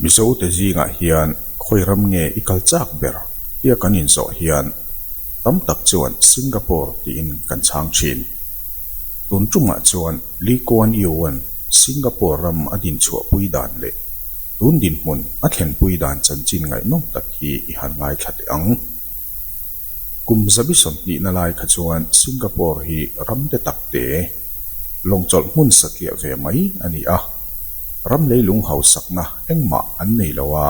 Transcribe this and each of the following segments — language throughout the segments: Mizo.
Mizote zingah hian khawi ram nge i kal chak ber tia kan inzawh hian tam tak chuan Singapore tiin kan chhang thin. Tun ṭungah chuan Lee Kuan Yew-a'n Singapore ram a dinchhuahpui dan leh tun dinhmun a thlenpui dan chanchin ngaihnawm tak hi i han ngaithla teh ang. Kum zabi sawmhnihna lai kha chuan Singapore hi ramde takte lawng chawlh hmun satliah ve mai a ni a, ram leilung hausakna engmah an nei lo a,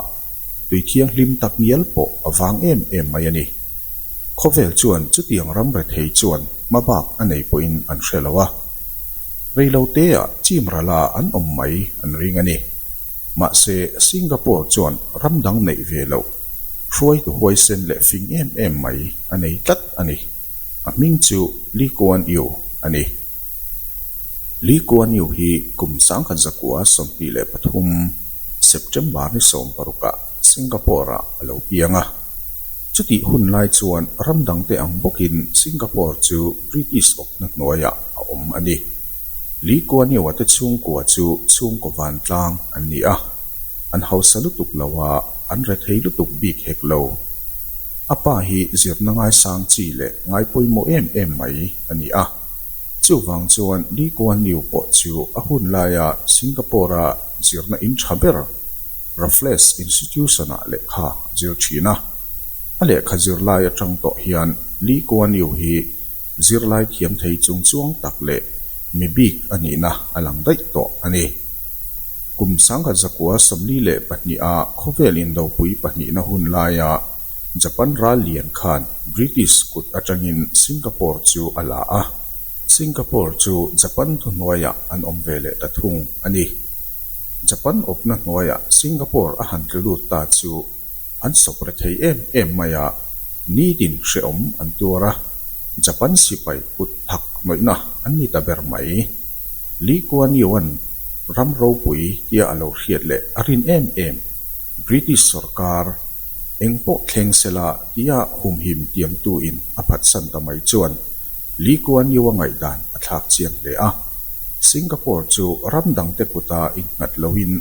tui thianghlim tak ngial pawh a vang em em mai a ni. Khawvel chuan chutiang ram re thei chuan hma bak a nei pawhin an hre lo a, reilo te ah chim ra la an awm mai an ring a ni. Mahse, Singapore chuan ram dang neih ve loh, hruaitu huaisen leh fing em em mai a nei tlat a ni. A hming chu Lee Kuan Yew a ni. Lee Kuan Yew hi kum sangkhat zakua sawmhnih leh pathum, September, ni sawm parukah Singapore-a a lo piang a. Chutih hun lai chuan ram dangte ang bawkin Singapore chu British awpna hnuaiah a awm a ni. Lee Kuan Yew-a te chhungkua chu chhungkaw vantlang an ni a, an hausa lutuk lo a, an rethei lutuk bik hek lo. A pa hi zirna ngaisang chi leh ngaipawimawh em em mai a ni a. Chuvang chuan Lee Kuan Yew pawh chu a hun laia Singapore-a zirna in tha ber Raffles Institution-ah lehkha a zir thin a. A lehkha zir lai atang tawh hian Lee Kuan Yew hi zirlai thiamthei chung chuang tak leh mi bik a nihna a lang daih tawh a ni. Kum sangha zakua sawmli leh pahniha khawvel indopui pahnihna hun laia, Japan ral lian khan British kut atangin Singapore chu a la a, Singapore chu Japan thuhnuaiah an awm ve leh ta thung a ni. Japan awpna hnuaiah Singapore a han tlu lut ta chu an sawp re thei em em mai a, ni din hrehawm an tuar a, Japan sipai kut thak hnawihna an ni ta ber mai. Lee Kuan Yew-a'n ram ropui tia a lo hriat leh a rin em em, British sawrkar, Eng pawh thleng sela tia humhim tiamtu in a phatsan ta mai chuan Lee Kuan Yew a ngaihdan a thlak chiang hle a. Singapore chu ram dangte kuta innghat loin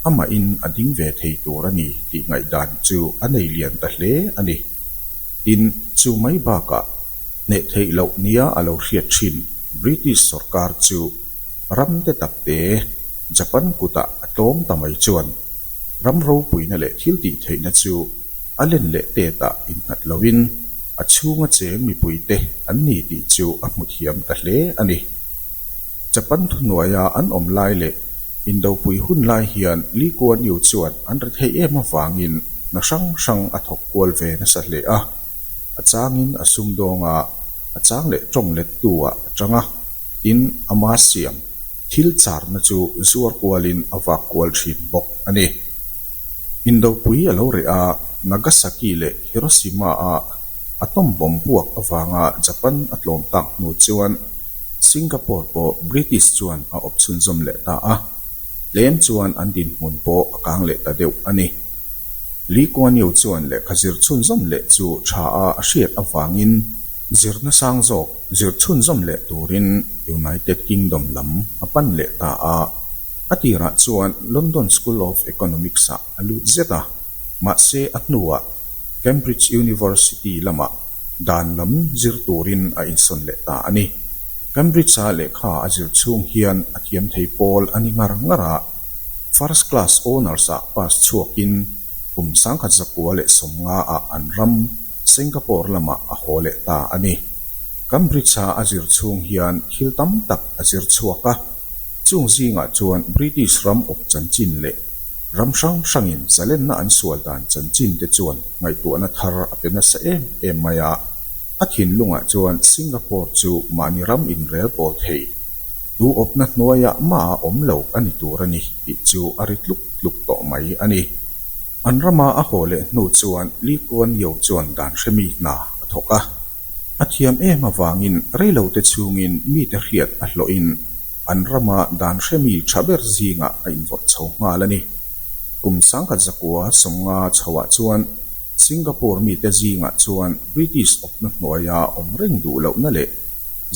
amahin a ding ve thei tur a ni tih ngaihdan chu a nei lian ta hle a ni. Tin, chu mai bakah hneh theih loh nia a lo hriat thin British sorkar chu ramte takte Japan kutah a tlawm ta mai chuan Ram ropuina leh thil tih theihna chu a len leh tetah innghat loin a chhunga cheng mipuite an ni tih chu a hmu thiam ta hle a ni. Japan thunuaia an awm lai leh Indopui hun lai hian Lee Kuan Yew chuan an ri theih em avangin hna hrang hrang a thawk kual ve nasa hle a, a changin a sumdawnga a chang leh tawng lettu-ah atanga tin ama siam. Thil charna chu zuar kualin a vak kual thin bawk a ni. Indopui a lo reh a, Nagasaki leh Hiroshima-a atom bomb buak avanga Japan a tlawm tak hnu chuan Singapore pawh British chuan a awpchhunzawm leh ta a, tlem chuan an dinhmun pawh a kang leh ta deuh a ni. Lee Kuan Yew chuan lehkha zir chhunzawm leh chu tha a a hriat avangin zirna sang zawk, Zir chhunzawm leh turin United Kingdom lam a pan leh ta a, a tirah chuan London School of Economics-ah a lut zet a, mahse a hnuah Cambridge University lamah dan lam zir turin a insawn leh ta a ni. Cambridge-a lehkha a zir chhung hian a thiam thei pawl a ni ngar ngar a, First Class Honours-ah pass chhuakin kum sangkhat zakua leh sawmnga-ah an ram. Singapore lamah a haw leh ta a ni. Cambridge-a a zir chhung hian thil tam tak a zir chhuak a, chung zingah chuan British ram awp chanchin leh ram hrang hrangin zalenna an sual dan chanchinte chuan ngaihtuahna thar a pe nasa em em mai a. A thinlungah chuan Singapore chu mahni ram inrel pawl thei duhawpna hnuaia mah a awm lo a ni tur a ni tih chu a ri tluk tluk tawh mai a ni. An rama a haw leh hnu chuan Li Kuan Yew chuan dan hre mi hna a thawk a, a thiam em avangin reilote chhungin mite hriat a hlawhin an rama dan hre mi tha ber zingah a invawrh chho nghal a ni. Kum sangkhat zakua sawm nga chhoah chuan Singapore mite zingah chuan British awpna hnuaia awm reng duh lohna leh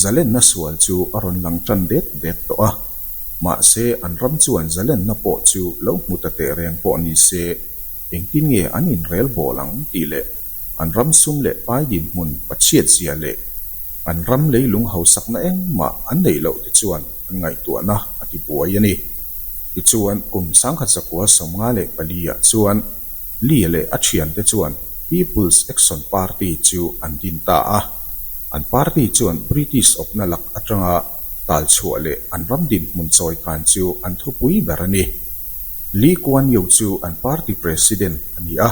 zalenna sual chu a rawn lang tan det det tawh a. Mahse, an ram chuan zalenna pawh chu lo hmu ta teh reng pawh ni se, engtin nge an inrel bawl ang tih leh an ram sum leh pai dinhmun pachiatzia leh an ram leilung hausakna engmah an neih loh te chuan an ngaihtuahna a ti buai a ni. Tichuan, kum sangkhat zakua sawmnga leh paliah chuan Lee leh a thiante chuan People's Action Party chu an din ta a, an party chuan British awpna lak atanga, tal chhuah leh an ram din hmun chawi kan chu an thupui ber a ni. Lee Kuan Yew chu an party president a ni a,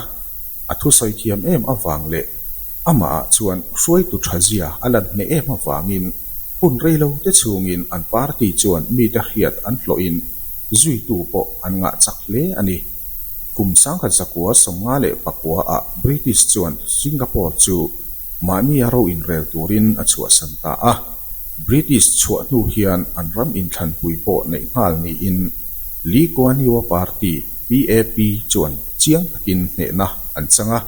a thusawi thiam em avang leh amahah chuan hruaitu thazia a lan hneh em avangin hun reilo te chungin an party chuan mite hriat an hlawhin zuitu pawh an ngah chak hle a ni. Kum sangkhat zakua sawmnga leh pakua ah British chuan Singapore chu Mahni a ro inrel turin a chhuahsan ta a, British chhuah hnu hian an ram inthlanpui pawh neih nghal niin Lee Kuan Yew-a party, PAP, chuan chiang takin hnehna an chang a.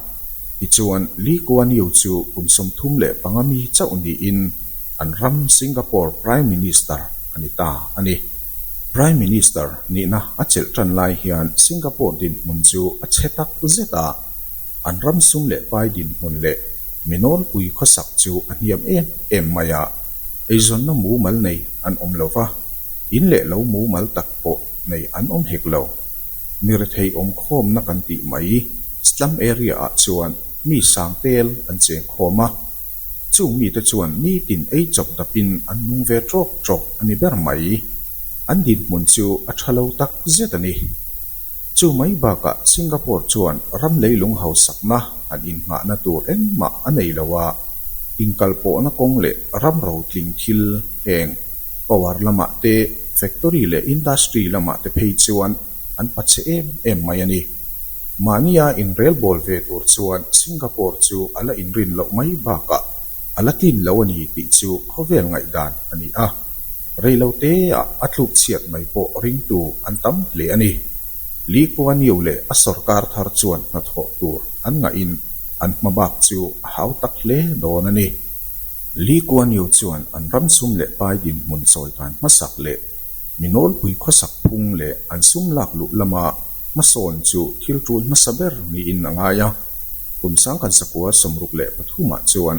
Tichuan, Lee Kuan Yew chu kum sawmthum leh panga mi chauh niin an ram Singapore Prime Minister a ni ta a ni. Prime Minister nihna a chelh tan lai hian Singapore dinhmun chu a chhe tak zet a. An ram sum leh pai dinhmun leh mi nawlpui khawsak chu a hniam em em mai a, eizawnna mumal nei an awm lo va, in leh lo mumal tak pawh nei an awm hek lo. Mi rethei awmkhawmna kan tih mai slum area ah chuan mi sang tel an chengkhawm a, chung mite chuan nitin ei chawp dapin an nung ve trawk trawk a ni ber mai. An dinhmun chu a tha lo tak zet a ni. Chu mai bakah Singapore chuan ram leilung hausakna han inngahna tur engmah a nei lo a, inkalpawhna kawng leh ram rotling thil heng power lamah te factory leh industry lamah te phei chuan an pa che em em mai a ni. Mahni a inrelbawl ve tur chuan Singapore chu a la inrin loh mai bakah a la tlin lo a ni tih chu khawvel ngaihdan a ni a. reilote a a tluk chhiat mai pawh ringtu an tam hle a ni. Lee Kuan Yew leh a sawrkar thar chuan hnathawh tur an ngaihin an hma bak chu a hau tak hle dawn a ni. Lee Kuan Yew chuan an ram sum leh pai dinhmun chawi tan hmasak leh mi nawlpui khawsak phung leh an sum lak luh lama hmasawn chu thilṭul hmasa ber niin a ngai a. Hun sang kan sakua samruk leh pathumah chuan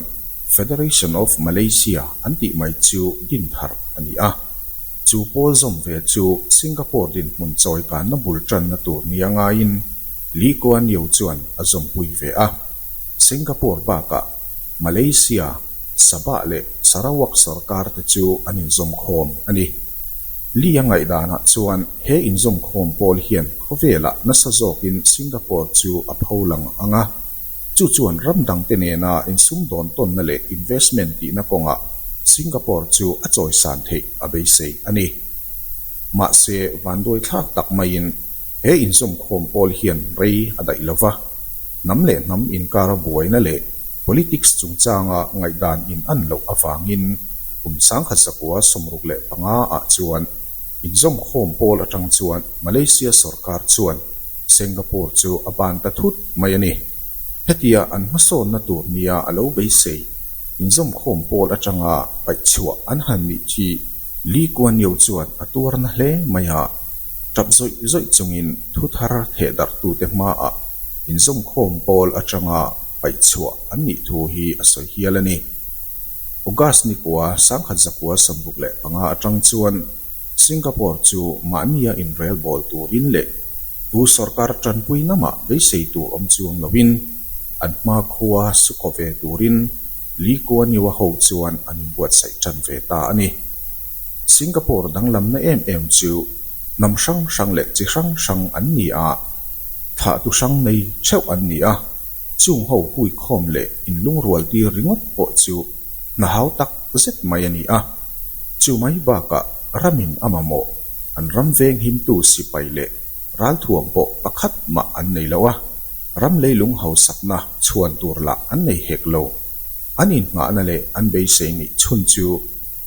Federation of Malaysia an tih mai chu din thar a ni a. Chu pawl zawm ve chu Singapore dinhmun chawi kanna bul tanna tur nia ngaiin Lee Kuan Yew chuan a zawmpui ve a. Singapore bakah Malaysia. Sabah leh Sarawak sawrkarte chu an inzawmkhawm a ni. Lee-a ngaihdanah chuan he inzawmkhawm pawl hian khawvelah nasa zawkin Singapore chu a pho lang ang a, chu chuan ram dangte nena insumdawn tawnna leh investment tihna kawngah Singapore chu a chawisan theih a beisei a ni. Mahse, vanduaithlak tak maiin, He inzawmkhawm pawl hian rei a daih lo va, hnam leh hnam inkara buaina leh politics chungchanga ngaihdan in an loh avangin kum sangkhat zakua sawmruk leh panga ah chuan inzawmkhawm pawl atang chuan Malaysia sorkar chuan Sengapore chu a ban ta thut mai a ni. Hetia an hmasawnna tur nia a lo beisei inzawmkhawm pawl atanga paihchhuah an han nih chi Lee Kuan Yew chuan a tuarna hle mai a, Tap zawih zawih chungin thuthar thehdarhtute hmaah inzawmkhawm pawl atanga paihchhuah an nih thu hi a sawi hial a ni. August nipua sangkhat zakua sawmbuk leh panga atang chuan Singapore chu mahnia inrelbawl turin leh tu sorkar tanpuinamah beisei tur awm chuang lovin an hma khua sukhawh ve turin Lee Kuan Yew-a ho chuan an inbuatsaih tan ve ta a ni. Singapore danglamna em em chu hnam hrang hrang leh chi hrang hrang an ni a, thahtu hrang nei theuh an ni a, chung ho huikhawm leh inlungrual tir ringawt pawh chu hnahau tak zet mai a ni a, chu mai bakah ramin a mamawh an ram venghimtu sipai leh ralthuam pawh pakhat mah an nei lo a, ram leilung hausakna chhuan tur lah an nei hek lo, an inhnghahna leh an beisei nih chhun chu.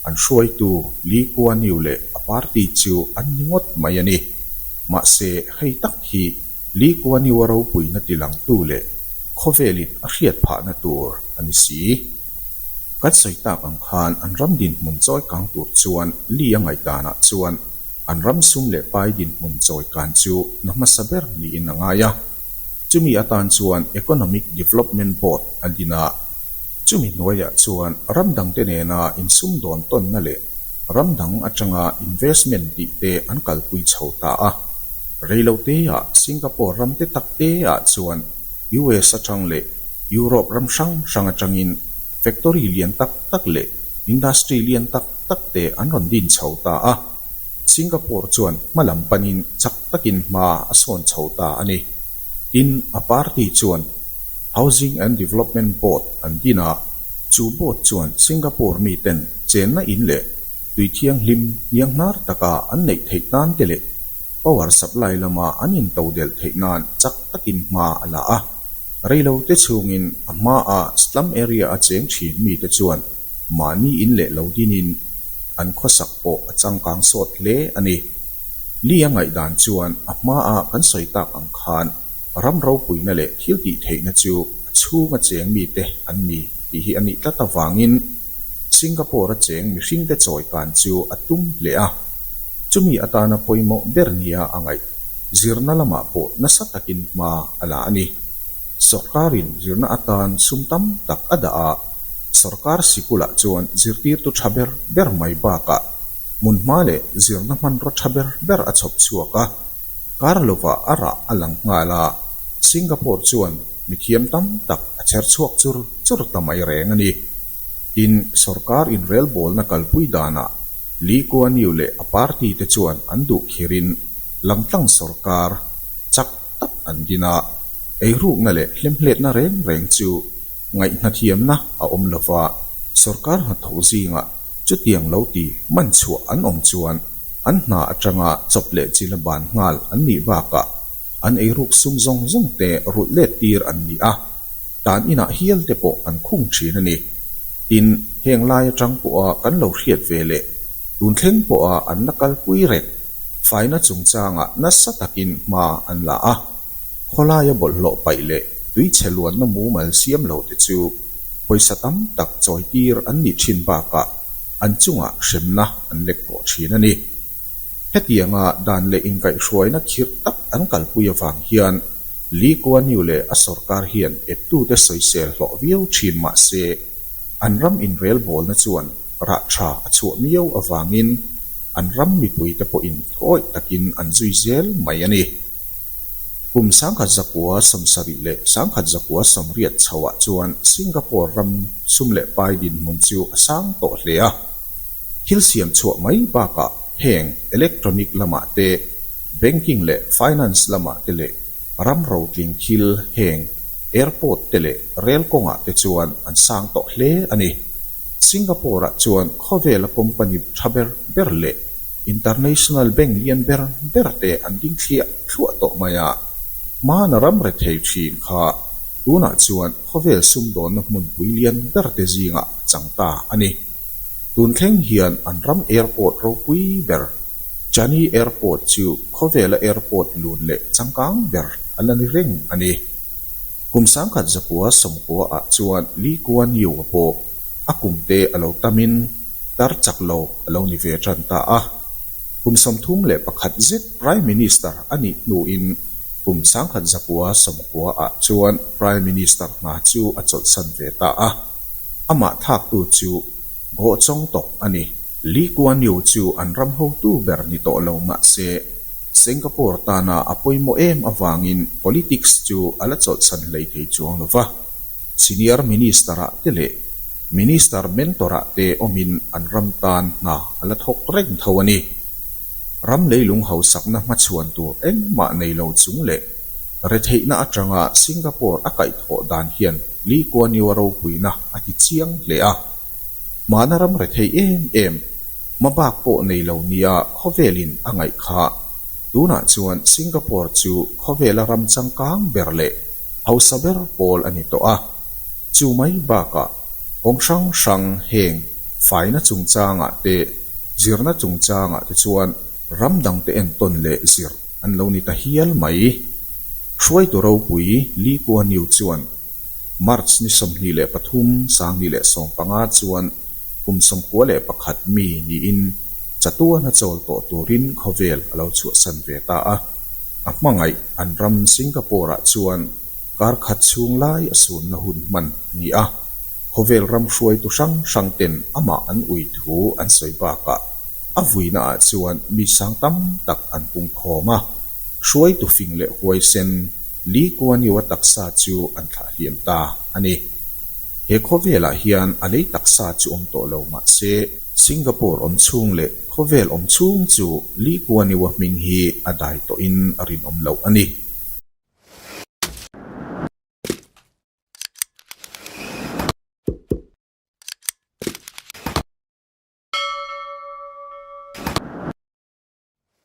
an hruaitu Lee Kuan Yew leh a party chu an ni ngawt mai a ni. Mahse, hei tak hi Lee Kuan Yew-a ropuina tilangtu leh khawvelin a hriat phahna tur a ni si. Kan sawi tak ang khan an ram dinhmun chawikang tur chuan Lee-a ngaihdanah chuan an ram sum leh pai dinhmun chawika'n chu na hmasa ber niin a ngai a. Chumi atan chuan Economic Development Board a din a, chumi hnuaiah chuan ram dangte nena insumdawn tawnna leh ram dang atanga investment tih te an kalpui chho ta a. Reilo teah Singapore ramte tak teah chuan US atang leh Europe ram hrang hrang atangin factory lian tak tak leh industry lian tak tak te an rawn din chho ta a. Singapore chuan hma lam panin chak takin hma a sawn chho ta a ni. Tin, a party chuan Housing and Development Board an din a, chu board chuan Singapore miten chenna in leh tui thianghlim nianghnar taka an neih theih tan te leh power supply lama an into delh theih nan chak takin hma a la a. Reilote chungin a hma a slum area a cheng thin mite chuan, mahni in leh lo dinin an khawsak pawh a changkang sawt hle a ni. Lee-a ngaihdan chuan a hmaa kan sawi tak ang khan ram ropuina leh thiltih theihna chu a chhunga cheng mite an ni tih hi a nih tlat avangin Singapore-a cheng mihringte chawikan chu a tum hle a. Chumi atana pawimawh ber nia a ngaih zirna lamah pawh nasa takin hma a la a ni. Sorkarin zirna atan sum tam tak a dah a. Sorkar Sikulah chuan zirtirtu tha ber ber mai bakah hmunhma leh zirna hmanraw tha ber ber a chhawp chhuak a, kar lova a rah a lang nghal a, Singapore chuan mithiam tam tak a chher chhuak chur chur ta mai reng a ni. Tin, sorkar inrelbawlna kalpui danah Lee Kuan Yew leh a party te chuan an duh khir in langtlang sorkar chak tak an din a, eirukna leh hlemhletna reng reng chu ngaihhnathiamna a awm lo va, sorkar hnathawh zingah chutiang lo ti hman chhuah an awm chuan an hna atanga chawp leh chila ban nghal an nih bakah an eiruk sum zawng zawng te rulh let tir an ni a, tan inah hial te pawh an khung thin a ni. Tin, heng lai atang pawha kan lo hriat ve leh tun thleng pawha an la kalpui rek. Faina chungchangah nasa takin hma an la a, khawlaia bawlhhlawh paih leh tui chhe luanna mumal siam lo te chu pawisa tam tak chawitir an nih thin bakah an chunga hremna an lek tawh thin a ni. Hetianga dan leh inkaihhruaina khirh tak an kalpui avang hian Lee Kuan Yew leh a sorkar hian eptute sawisel hlawh viau thin mahse, an ram inrelbawlna chuan rah tha a chhuah miau avangin an ram mipuite pawhin thawih takin an zui zel mai a ni. Kum Sangkhat Zakua Samsari leh Sangkhat Zakua Samriat chhoah chuan Singapore ram sum leh pai dinhmun chu a sang tawh hle a. Thil siam chhuah mai bakah heng electronic lamah te, banking leh finance lamah te leh ram rotling thil heng airport te leh rail kawngah te chuan an sang tawh hle a ni. Singapore-ah chuan khawvela company tha ber ber leh international bank lian ber ber te an ding thliah thluah tawh mai a, hmana ram rethei thin kha tunah chuan khawvel sumdawnna hmunpui lian ber te zingah a chang ta a ni. Tun thleng hian an ram airport ropui ber, Changi Airport chu khawvela airport lun leh changkang ber a la ni reng a ni. Kum sangkhat zakua sawmkua ah chuan Lee Kuan Yew a pawh a kum te a lo tam in tar chak lo a lo ni ve tan ta a. Kum sawmthum leh pakhat zet Prime Minister a nih hnu in kum sangkhat zakua sawmkua ah chuan Prime Minister hna chu a chawlhsan ve ta a. A mahthak tu chu gawhchawng tawk a ni. Lee Kuan Yew chu an ram hotu ber ni tawh lo mah se, Sengkapawr tana a pawimawh em avangin politics chu a la chawlhsan hlei thei chuang lo va, Senior Minister-ah te leh Minister Mentor-ah te awmin an ram tan hna a la thawk reng tho a ni. Ram leilung hausakna hmachhuan tur engmah nei lo chung leh retheihna atanga Singapore a kaihthawh dan hian Lee Kuan Yew-a ropuina a ti chiang hle a. Mahna ram rethei em em ma bak pawh nei lo nia khawvel in a ngaih kha. Tunah chuan Singapore chu khawvela ram changkang ber leh hausa ber pawl a ni tawh a. Chu mai bakah kawng hrang hrang heng faina chungchangah te zirna chungchangah te chuan ram dangte entawn leh zir an lo ni ta hial mai. Hruaitu ropui Lee Kuan Yew chuan March ni sawmhnih leh pathum, Sangni leh Sawm panga chuan kum sawmkhua leh pakhat mi niin chatuana chawl tawh turin khawvel a lo chhuahsan ve ta a. A hmangaih an ram Singapore-ah chuan kar khat chhung lai a sunna hun hman a ni a, khawvel ram hruaitu hrang hrang ten amah an ui thu an sawi bakah a vuinaah chuan mi sang tam tak an pungkhawm a, hruaitu fing leh huaisen, Lee Kuan Yew-a taksa chu an thlah hliam ta a ni. He khawvelah hian a lei taksa chu awm tawh lo mah se, Singapore awm chhung leh khawvel awm chhung chu Lee Kuan Yew-a hming hi a dai tawhin a rinawm loh a ni.